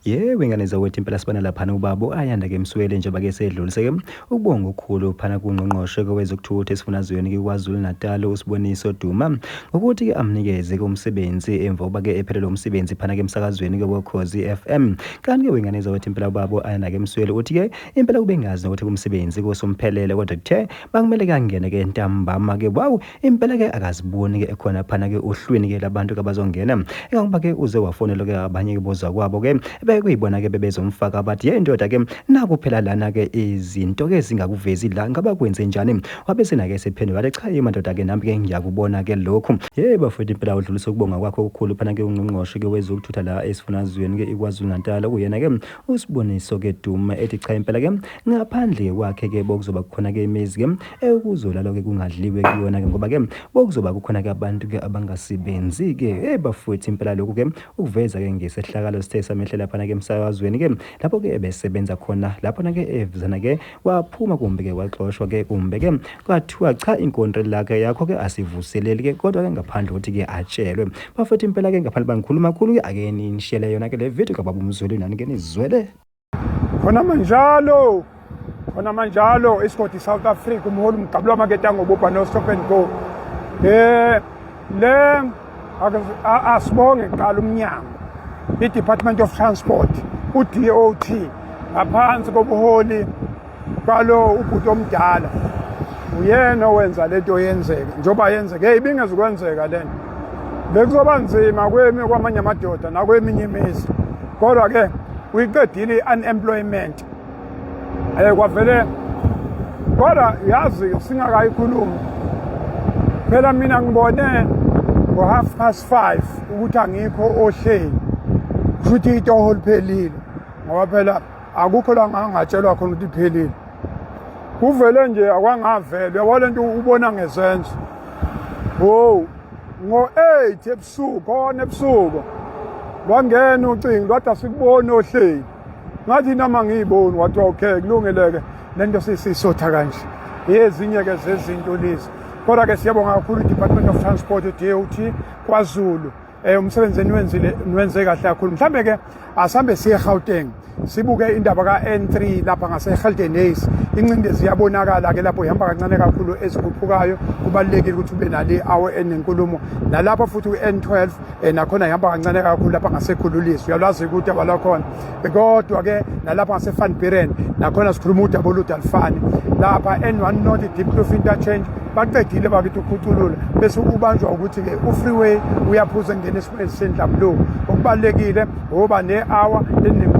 Yebo ingane zakwethu impela sibona laphana ubaba u-Ayanda ke Msweli njengoba ke sedlulise ke ukubonga okukhulu phana kungqongqoshe kwezokuthutha esifundazweni KwaZulu-Natal uSiboniso Duma ukuthi ke amnikeze ke umsebenzi emva kokuba ke ephelele umsebenzi phana ke emsakazweni ke wokhozi FM kanti ke wengane zakwethu impela ubaba u-Ayanda ke Msweli uthi ke impela kubengazi nokuthi kumsebenzi kusomphelele kodwa kuthe bakumele kangene ke ntambama ke wow impela ke akaziboni ke ekhona phana ke uhlwini ke labantu kabazongena engangoba ke uze wafonela ke abanye ke bozwa kwabo ke bekuyibona ke bebezomfaka abathi ye ndoda ke naku phela lana ke izinto ke zingakuvezi la ngaba kwenze njani wabe senake sephendula wathi cha yima ndoda ke nami ke ngiyakubona ke lokhu ye bafowethu impela udlulisa ukubonga kwakho okukhulu phana ke ungqongqoshe ke wezokuthutha la esifunazweni ke ikwazulu natal okuyena ke usiboniso ke duma ethi cha impela ke ngaphandle kwakhe ke bokuzoba khona ke imizi ke Ukuzolala ke kungadliwe kuyona ke ngoba ke bokuzoba kukhona ke abantu ke abangasebenzi ke hey bafowethu impela lokhu ke ukuveza ke ngesehlakalo sithe samehlela phana ke emsakazweni ke lapho ke ebesebenza khona lapho na ke evizana ke waphuma kumbe ke waxoshwa ke kumbe ke kwathiwa cha inkontre lakhe yakho ke asivuseleli ke kodwa ke ngaphandle ukuthi ke atshelwe bafowethu impela ke ngaphandle bangikhuluma khulu ke ake nishele yona ke le video kababumzulu nani ke nizwele khona manjalo khona manjalo isigodi south africa umholi umgabu lwamakete angobubha nostop and go um le asibonge kuqala umnyango i-department of transport u-dot ngaphansi kobuholi Kalo ubhuti omdala uyena owenza lento yenzeke njengoba yenzeke hey ibingezukwenzeka lento bekuzoba nzima kwemi kwamanye amadoda nakweminye imizi kodwa ke uyiqedile i-unemployment um kwavele kodwa yazi singakayikhulumi phela mina ngibone ngo-half past five ukuthi angikho ohleli kushuthi itoho liphelile ngoba phela akukho la ngangatshelwa khona ukuthi iphelile kuvele nje akwangavele yabo le nto ubona ngezenzo wow ngo-eight ebusuku khona ebusuku lwangena ucingo lwathi asikuboni ohleli ngathi noma ngiyiboni wathiwa okay kulungeleke le nto sisisotha kanje yezinye-ke zezinto lezi kodwa-ke siyabonga kakhulu i-department of transport dot kwazulu Eh umsebenzi eniwenzile niwenze kahle kakhulu. Mhlambe ke asambe siye Gauteng. Sibuke indaba ka N3 lapha ngase Hilton Hayes. Incindezi yabonakala ke lapho ihamba kancane kakhulu ezikhuphukayo. Kubalekile ukuthi ube nale awe enenkulumo. Nalapha futhi uN12 eh, nakhona ihamba kancane kakhulu lapha ngase Khululiso. Uyalwazi ukuthi abalakhona. kodwa ke nalapha ngasevan buren nakhona sikhuluma udaba olude alufani lapha n1 not deep clof interchange baqedile bakithi ukhuculula bese ubanjwa ukuthi-ke u-freeway uyaphuza engena esimweni sendlamlungu okubalulekile ngoba ne-hour enembulo